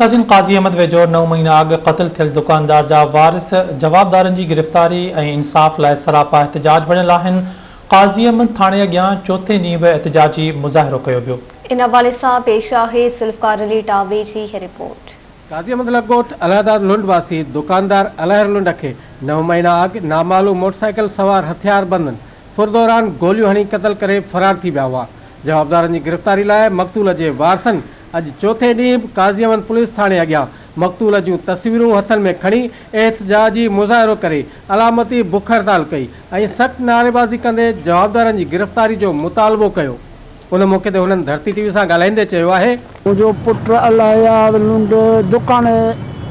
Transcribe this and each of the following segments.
عظيم قاضي احمد ويجهو نو مهينا اڳ قتل ٿيل دڪاندار جا وارث جوابدارن جي گرفتاري ۽ انصاف لاء سراپا احتجاج وڙهيل آهن، قاضي احمد ٿاڻي اڳيان چوٿين ڏينهن به احتجاجي مظاهرو ڪيو ويو. ان حوالي سان پيش آهي ذوالفقار علي ٽاوري جي هي رپورٽ. قاضي احمد لڳ ڳوٺ الهداد لنڊ واسي دڪاندار الهر لنڊ کي نو مهينا اڳ نامعلوم موٽرسائيڪل سوار هٿياربندن ڦر دوران گوليون هڻي قتل ڪري فرار ٿي ويا هئا، جوابدارن جي گرفتاري لاء مقتول جي وارثن اڄ چوٿين ڏينهن به قاضي احمد پوليس ٿاڻي اڳيان مقتول جون تصويرون هٿن ۾ کڻي احتجاجي مظاهرو ڪري علامتي بک هڙتال ڪئي ۽ سخت نعريبازي ڪندي جوابدارن جي گرفتاري جو مطالبو ڪيو ان موقعي تي هنن ڌرتي ٽي وي سان ڳالهائيندي چيو آهي منهنجو پٽ الهيار لنڊ دڪان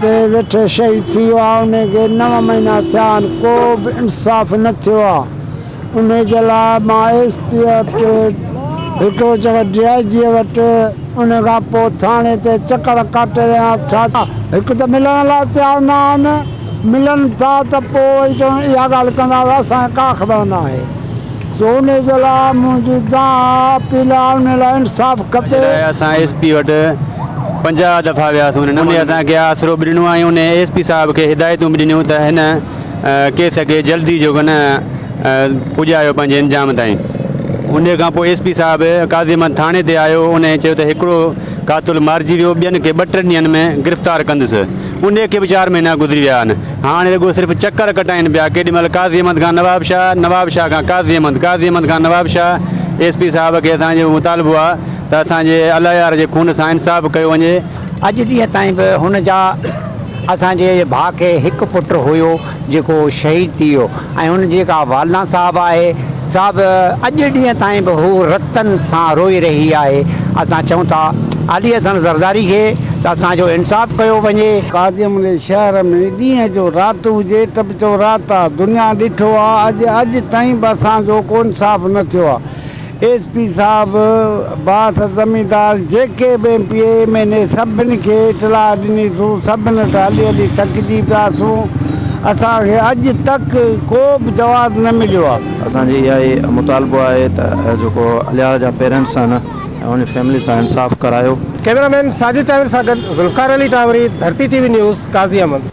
تي ويٺي شهيد ٿي ويو آهي انهن کي نو مهينا ٿيا آهن ڪو به انصاف نه ٿيو آهي ان جي لاء مان ايس پي وٽ، ڀٽو چيو ڊي آء جيء وٽ، ان کان پوء ٿاڻي تي چڪر ڪاٽي رهيان ڇا؟ هڪ ته ملڻ لاء تيار نه آهن، ملن ٿا ته پوء وري چون اها ڳالهه ڪندا ته اسان کي ڪا خبر نه آهي. سو ان جي لاء منهنجي دانهن اها اپيل آهي ان لاء انصاف کپي. ان جي لاء اسان ايس پي وٽ پنجاهه دفعا وياسون، هن اسان کي آسرو به ڏنو ۽ ان ايس پي صاحب کي هدايتون به ڏنيون ته هن ڪيس کي جلدي جو ڪن پڄايو پنهنجي انجام تائين. انهيء کان پوء ايس پي صاحب قاضي محمد ٿاڻي تي آيو. انهيء چيو ته هڪڙو قاتل مارجي ويو، ٻين کي ٻه ٽن ڏينهن ۾ گرفتار ڪندس. انهيء کي به چار مهينا گذري ويا آهن. هاڻي رڳو صرف چڪر ڪٽائين پيا، ڪيڏي مهل قاضي احمد کان نواب شاهه، نواب شاهه کان قاضي احمد، قاضي احمد کان نواب شاهه. ايس پي صاحب کي اسان جو مطالبو آهي ته اسان جي الايار جي خون سان انصاف ڪيو وڃي. اڄ ڏينهن تائين به هن جا اسان جي ڀاء کي هڪ پٽ هيو جيڪو شهيد ٿي ويو ۽ هن جي جيڪا والده صاحب آهي سا به اڄ ڏينهن تائين به هو رتن سان روئي رهي آهي اسان چئون ٿا علي حسن زرداري کي ته اسان جو انصاف ڪيو وڃي. ڪاظم علي شهر ۾ ڏينهن جو رات هجي ته به چئو رات آ دنيا ڏٺو آ اڄ اڄ تائين به اسان جو ڪو انصاف نه ٿيو آ. ايس پي صاحب باس زميندار جيڪي به M P A M N A سڀن کي اطلاع ڏني سون سڀن ته هلي هلي ٿڪجي پيا سون اسان کي اڄ تڪ ڪو به جواز نه مليو آ. اسان جي اها ئي مطالبو آهي ته جيڪو اليار جا پيرنٽس آهن ۽ ان جي فيملي سان انصاف ڪرايو. ڪيمرا مين ساجد ٽاهير سان گڏ Zulfiqar Ali Tahori, Dharti T V news, Qazi Ahmed.